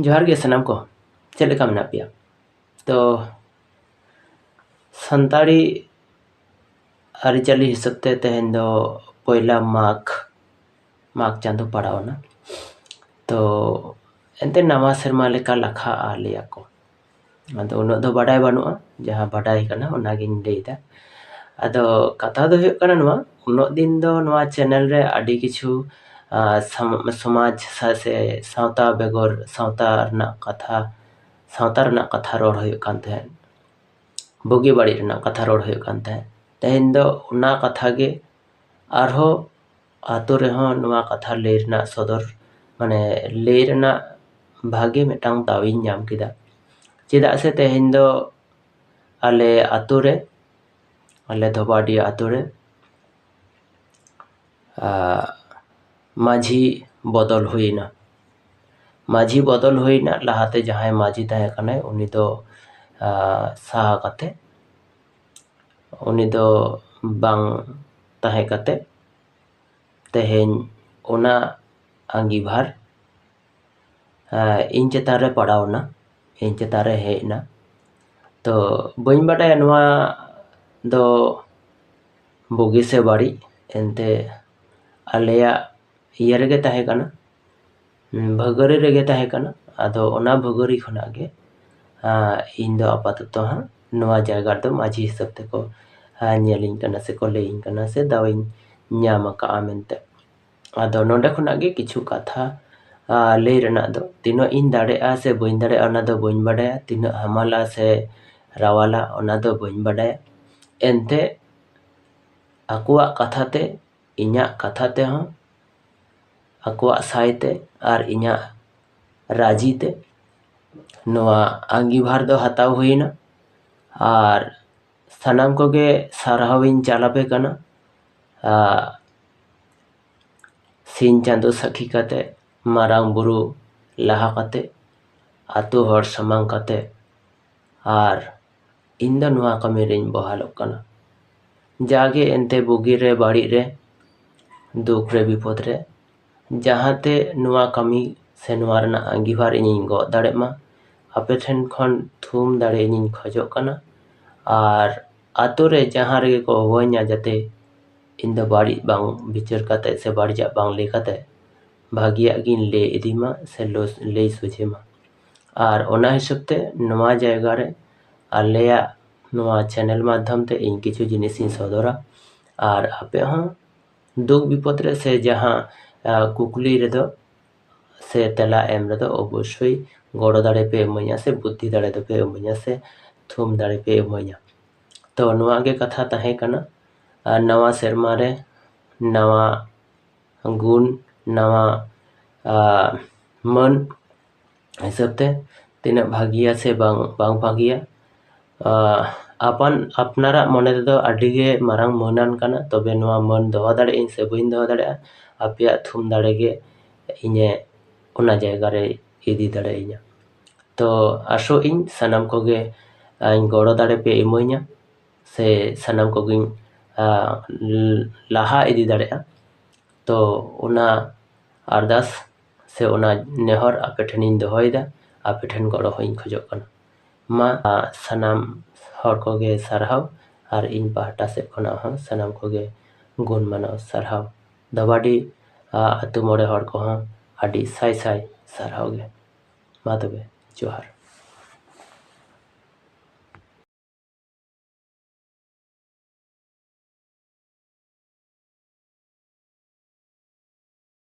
ᱡᱚᱦᱟᱨ ᱜᱮ ᱥᱟᱱᱟᱢ ᱠᱚ ᱪᱮᱫ ᱞᱮᱠᱟ ᱢᱮᱱᱟᱜ ᱯᱮᱭᱟ ᱛᱚ ᱥᱟᱱᱛᱟᱲᱤ ᱟᱹᱨᱤᱪᱟᱹᱞᱤ ᱦᱤᱥᱟᱹᱵ ᱛᱮ ᱛᱮᱦᱮᱧ ᱫᱚ ᱯᱚᱭᱞᱟ ᱢᱟᱜᱽ ᱢᱟᱜᱽ ᱪᱟᱸᱫᱚ ᱯᱟᱲᱟᱣᱱᱟ ᱛᱚ ᱮᱱᱛᱮ ᱱᱟᱣᱟ ᱥᱮᱨᱢᱟ ᱞᱮᱠᱟ ᱞᱟᱠᱷᱟᱜᱼᱟ ᱞᱟᱹᱭᱟᱠᱚ ᱟᱫᱚ ᱩᱱᱟᱹᱜ ᱫᱚ ᱵᱟᱰᱟᱭ ᱵᱟᱹᱱᱩᱜᱼᱟ ᱡᱟᱦᱟᱸ ᱵᱟᱰᱟᱭ ᱠᱟᱱᱟ ᱚᱱᱟᱜᱤᱧ ᱞᱟᱹᱭᱫᱟ ᱟᱫᱚ ᱠᱟᱛᱷᱟ ᱫᱚ ᱦᱩᱭᱩᱜ ᱠᱟᱱᱟ ᱱᱚᱣᱟ ᱩᱱᱟᱹᱜ ᱫᱤᱱ ᱫᱚ ᱱᱚᱣᱟ ᱪᱮᱱᱮᱞ ᱨᱮ ᱟᱹᱰᱤ ᱠᱤᱪᱷᱩ ᱥᱚᱢᱟᱡᱽ ᱥᱮ ᱥᱟᱶᱛᱟ ᱵᱮᱜᱚᱨ ᱥᱟᱶᱛᱟ ᱨᱮᱱᱟᱜ ᱠᱟᱛᱷᱟ ᱥᱟᱶᱛᱟ ᱨᱮᱱᱟᱜ ᱠᱟᱛᱷᱟ ᱨᱚᱲ ᱦᱩᱭᱩᱜ ᱠᱟᱱ ᱛᱟᱦᱮᱸᱫ ᱵᱩᱜᱤ ᱵᱟᱹᱲᱤᱡ ᱨᱮᱱᱟᱜ ᱠᱟᱛᱷᱟ ᱨᱚᱲ ᱦᱩᱭᱩᱜ ᱠᱟᱱ ᱛᱟᱦᱮᱸᱫ ᱛᱮᱦᱮᱧ ᱫᱚ ᱚᱱᱟ ᱠᱟᱛᱷᱟ ᱜᱮ ᱟᱨᱦᱚᱸ ᱟᱛᱳ ᱨᱮᱦᱚᱸ ᱱᱚᱣᱟ ᱠᱟᱛᱷᱟ ᱞᱟᱹᱭ ᱨᱮᱱᱟᱜ ᱥᱚᱫᱚᱨ ᱢᱟᱱᱮ ᱞᱟᱹᱭ ᱨᱮᱱᱟᱜ ᱵᱷᱟᱜᱮ ᱢᱤᱫᱴᱟᱝ ᱫᱟᱣ ᱤᱧ ᱧᱟᱢ ᱠᱮᱫᱟ ᱪᱮᱫᱟᱜ ᱥᱮ ᱛᱮᱦᱮᱧ ᱫᱚ ᱟᱞᱮ ᱟᱛᱳ ᱨᱮ ᱟᱞᱮ ᱫᱷᱚᱵᱟᱰᱤ ᱟᱛᱳ ᱨᱮ ᱢᱟᱹᱡᱷᱤ ᱵᱚᱫᱚᱞ ᱦᱩᱭᱮᱱᱟ ᱢᱟᱹᱡᱷᱤ ᱵᱚᱫᱚᱞ ᱦᱩᱭᱮᱱᱟ ᱞᱟᱦᱟᱛᱮ ᱡᱟᱦᱟᱸᱭ ᱢᱟᱹᱡᱷᱤ ᱛᱟᱦᱮᱸ ᱠᱟᱱᱟᱭ ᱩᱱᱤ ᱫᱚ ᱥᱟᱦᱟ ᱠᱟᱛᱮ ᱩᱱᱤ ᱫᱚ ᱵᱟᱝ ᱛᱟᱦᱮᱸ ᱠᱟᱛᱮ ᱛᱮᱦᱮᱧ ᱚᱱᱟ ᱟᱺᱜᱤᱵᱷᱟᱨ ᱤᱧ ᱪᱮᱛᱟᱱ ᱨᱮ ᱯᱟᱲᱟᱣ ᱮᱱᱟ ᱤᱧ ᱪᱮᱛᱟᱱ ᱨᱮ ᱦᱮᱡ ᱮᱱᱟ ᱛᱚ ᱵᱟᱹᱧ ᱵᱟᱰᱟᱭᱟ ᱱᱚᱣᱟ ᱫᱚ ᱵᱩᱜᱤ ᱥᱮ ᱵᱟᱹᱲᱤᱡ ᱮᱱᱛᱮ ᱟᱞᱮᱭᱟᱜ ᱤᱭᱟᱹ ᱨᱮᱜᱮ ᱛᱟᱦᱮᱸ ᱠᱟᱱᱟ ᱵᱷᱟᱹᱜᱟᱹᱨᱤ ᱨᱮᱜᱮ ᱛᱟᱦᱮᱸ ᱠᱟᱱᱟ ᱟᱫᱚ ᱚᱱᱟ ᱵᱷᱟᱹᱜᱟᱹᱨᱤ ᱠᱷᱚᱱᱟᱜ ᱜᱮ ᱤᱧ ᱫᱚ ᱟᱯᱟᱛᱚᱛᱚ ᱦᱟᱸᱜ ᱱᱚᱣᱟ ᱡᱟᱭᱜᱟ ᱨᱮᱫᱚ ᱢᱟᱹᱡᱷᱤ ᱦᱤᱥᱟᱹᱵ ᱛᱮᱠᱚ ᱧᱮᱞᱤᱧ ᱠᱟᱱᱟ ᱥᱮᱠᱚ ᱞᱟᱹᱭᱟᱹᱧ ᱠᱟᱱᱟ ᱥᱮ ᱫᱟᱣ ᱤᱧ ᱧᱟᱢ ᱟᱠᱟᱫᱼᱟ ᱢᱮᱱᱛᱮ ᱟᱫᱚ ᱱᱚᱸᱰᱮ ᱠᱷᱚᱱᱟᱜ ᱜᱮ ᱠᱤᱪᱷᱩ ᱠᱟᱛᱷᱟ ᱞᱟᱹᱭ ᱨᱮᱱᱟᱜ ᱫᱚ ᱛᱤᱱᱟᱹᱜ ᱤᱧ ᱫᱟᱲᱮᱭᱟᱜᱼᱟ ᱥᱮ ᱵᱟᱹᱧ ᱫᱟᱲᱮᱭᱟᱜᱼᱟ ᱚᱱᱟ ᱫᱚ ᱵᱟᱹᱧ ᱵᱟᱰᱟᱭᱟ ᱛᱤᱱᱟᱹᱜ ᱦᱟᱢᱟᱞᱟ ᱥᱮ ᱨᱟᱣᱟᱞᱟ ᱚᱱᱟ ᱫᱚ ᱵᱟᱹᱧ ᱵᱟᱰᱟᱭᱟ ᱮᱱᱛᱮ ᱟᱠᱚᱣᱟᱜ ᱠᱟᱛᱷᱟ ᱛᱮ ᱤᱧᱟᱹᱜ ᱠᱟᱛᱷᱟ ᱛᱮᱦᱚᱸ ᱟᱠᱚᱣᱟᱜ ᱥᱟᱭ ᱛᱮ ᱟᱨ ᱤᱧᱟᱹᱜ ᱨᱟᱹᱡᱤ ᱛᱮ ᱱᱚᱣᱟ ᱟᱺᱜᱤᱵᱷᱟᱨ ᱫᱚ ᱦᱟᱛᱟᱣ ᱦᱩᱭᱮᱱᱟ ᱟᱨ ᱥᱟᱱᱟᱢ ᱠᱚᱜᱮ ᱥᱟᱨᱦᱟᱣ ᱤᱧ ᱪᱟᱞ ᱟᱯᱮ ᱠᱟᱱᱟ ᱥᱤᱧ ᱪᱟᱸᱫᱚ ᱥᱟᱹᱠᱷᱤ ᱠᱟᱛᱮᱫ ᱢᱟᱨᱟᱝ ᱵᱩᱨᱩ ᱞᱟᱦᱟ ᱠᱟᱛᱮᱫ ᱟᱹᱛᱩ ᱦᱚᱲ ᱥᱟᱢᱟᱝ ᱠᱟᱛᱮᱫ ᱟᱨ ᱤᱧ ᱫᱚ ᱱᱚᱣᱟ ᱠᱟᱹᱢᱤ ᱨᱤᱧ ᱵᱚᱦᱟᱞᱚᱜ ᱠᱟᱱᱟ ᱡᱟᱜᱮ ᱮᱱᱛᱮ ᱵᱩᱜᱤ ᱨᱮ ᱵᱟᱹᱲᱤᱡ ᱨᱮ ᱫᱩᱠ ᱨᱮ ᱵᱤᱯᱚᱫᱽ ᱨᱮ ᱡᱟᱦᱟᱸ ᱛᱮ ᱱᱚᱣᱟ ᱠᱟᱹᱢᱤ ᱥᱮ ᱱᱚᱣᱟ ᱨᱮᱱᱟᱜ ᱟᱺᱜᱤᱵᱷᱟᱨ ᱤᱧᱤᱧ ᱜᱚᱜ ᱫᱟᱲᱮᱜ ᱢᱟ ᱟᱯᱮ ᱴᱷᱮᱱ ᱠᱷᱚᱱ ᱛᱷᱩᱢ ᱫᱟᱲᱮ ᱤᱧᱤᱧ ᱠᱷᱚᱡᱚᱜ ᱠᱟᱱᱟ ᱟᱨ ᱟᱹᱛᱩ ᱨᱮ ᱡᱟᱦᱟᱸ ᱨᱮᱜᱮ ᱠᱚ ᱦᱚᱦᱚᱣᱟᱹᱧᱟ ᱡᱟᱛᱮ ᱤᱧ ᱫᱚ ᱵᱟᱹᱲᱤᱡ ᱵᱟᱝ ᱵᱤᱪᱟᱹᱨ ᱠᱟᱛᱮᱫ ᱥᱮ ᱵᱟᱹᱲᱤᱡᱟᱜ ᱵᱟᱝ ᱞᱟᱹᱭ ᱠᱟᱛᱮᱫ ᱵᱷᱟᱹᱜᱤᱭᱟᱜ ᱜᱤᱧ ᱞᱟᱹᱭ ᱤᱫᱤ ᱢᱟ ᱥᱮ ᱞᱟᱹᱭ ᱥᱚᱡᱷᱮ ᱢᱟ ᱟᱨ ᱚᱱᱟ ᱦᱤᱥᱟᱹᱵᱽ ᱛᱮ ᱱᱚᱣᱟ ᱡᱟᱭᱜᱟ ᱨᱮ ᱟᱞᱮᱭᱟᱜ ᱱᱚᱣᱟ ᱪᱮᱱᱮᱞ ᱢᱟᱫᱽᱫᱷᱚᱢ ᱛᱮ ᱤᱧ ᱠᱤᱪᱷᱩ ᱡᱤᱱᱤᱥ ᱤᱧ ᱥᱚᱫᱚᱨᱟ ᱟᱨ ᱟᱯᱮ ᱦᱚᱸ ᱫᱩᱠ ᱵᱤᱯᱚᱫᱽ ᱨᱮ ᱥᱮ ᱡᱟᱦᱟᱸ ᱠᱩᱠᱞᱤ ᱨᱮᱫᱚ ᱥᱮ ᱛᱮᱞᱟ ᱮᱢ ᱨᱮᱫᱚ ᱚᱵᱚᱥᱥᱳᱭ ᱜᱚᱲᱚ ᱫᱟᱲᱮ ᱯᱮ ᱤᱢᱟᱹᱧᱟ ᱥᱮ ᱵᱩᱫᱽᱫᱷᱤ ᱫᱟᱲᱮ ᱫᱚᱯᱮ ᱤᱢᱟᱹᱧᱟ ᱥᱮ ᱛᱷᱩᱢ ᱫᱟᱲᱮ ᱯᱮ ᱤᱢᱟᱹᱧᱟ ᱛᱚ ᱱᱚᱣᱟ ᱜᱮ ᱠᱟᱛᱷᱟ ᱛᱟᱦᱮᱸ ᱠᱟᱱᱟ ᱟᱨ ᱱᱟᱣᱟ ᱥᱮᱨᱢᱟ ᱨᱮ ᱱᱟᱣᱟ ᱜᱩᱱ ᱱᱟᱣᱟ ᱢᱟᱹᱱ ᱦᱤᱥᱟᱹᱵ ᱛᱮ ᱛᱤᱱᱟᱹᱜ ᱵᱷᱟᱹᱜᱤᱭᱟ ᱥᱮ ᱵᱟᱝ ᱵᱟᱝ ᱵᱷᱟᱹᱜᱤᱭᱟ ᱟᱯᱟᱱ ᱟᱯᱱᱟᱨᱟᱜ ᱢᱚᱱᱮ ᱨᱮᱫᱚ ᱟᱹᱰᱤ ᱜᱮ ᱢᱟᱨᱟᱝ ᱢᱟᱹᱱᱟᱱ ᱠᱟᱱᱟ ᱛᱚᱵᱮ ᱱᱚᱣᱟ ᱢᱟᱹᱱ ᱫᱚᱦᱚ ᱫᱟᱲᱮᱭᱟᱜ ᱟᱹᱧ ᱥᱮ ᱵᱟᱹᱧ ᱫᱚᱦᱚ ᱫᱟᱲᱮᱭᱟᱜᱼᱟ ᱟᱯᱮᱭᱟᱜ ᱛᱷᱩᱢ ᱫᱟᱲᱮ ᱜᱮ ᱤᱧᱮ ᱚᱱᱟ ᱡᱟᱭᱜᱟ ᱨᱮᱭ ᱤᱫᱤ ᱫᱟᱲᱮᱭᱤᱧᱟ ᱛᱚ ᱟᱥᱚᱜ ᱟᱹᱧ ᱥᱟᱱᱟᱢ ᱠᱚᱜᱮ ᱤᱧ ᱜᱚᱲᱚ ᱫᱟᱲᱮ ᱯᱮ ᱤᱢᱟᱹᱧᱟ ᱥᱮ ᱥᱟᱱᱟᱢ ᱠᱚᱜᱮᱧ ᱞᱟᱦᱟ ᱤᱫᱤ ᱫᱟᱲᱮᱭᱟᱜᱼᱟ ᱛᱚ ᱚᱱᱟ ᱟᱨᱫᱟᱥ ᱥᱮ ᱚᱱᱟ ᱱᱮᱦᱚᱨ ᱟᱯᱮ ᱴᱷᱮᱱᱤᱧ ᱫᱚᱦᱚᱭᱮᱫᱟ ᱟᱯᱮ ᱴᱷᱮᱱ ᱜᱚᱲᱚ ᱦᱚᱸᱧ ᱠᱷᱚᱡᱚᱜ ᱠᱟᱱᱟ ᱢᱟ ᱥᱟᱱᱟᱢ ᱦᱚᱲ ᱠᱚᱜᱮ ᱥᱟᱨᱦᱟᱣ ᱟᱨ ᱤᱧ ᱯᱟᱦᱴᱟ ᱥᱮᱫ ᱠᱷᱚᱱᱟᱜ ᱦᱚᱸ ᱥᱟᱱᱟᱢ ᱠᱚᱜᱮ ᱜᱩᱱ ᱢᱟᱱᱟᱣ ᱥᱟᱨᱦᱟᱣ ᱫᱷᱟᱵᱟᱰᱤ ᱟᱛᱳ ᱢᱚᱬᱮ ᱦᱚᱲ ᱠᱚᱦᱚᱸ ᱟᱹᱰᱤ ᱥᱟᱭ ᱥᱟᱭ ᱥᱟᱨᱦᱟᱣ ᱜᱮ ᱢᱟ ᱛᱚᱵᱮ ᱡᱚᱦᱟᱨ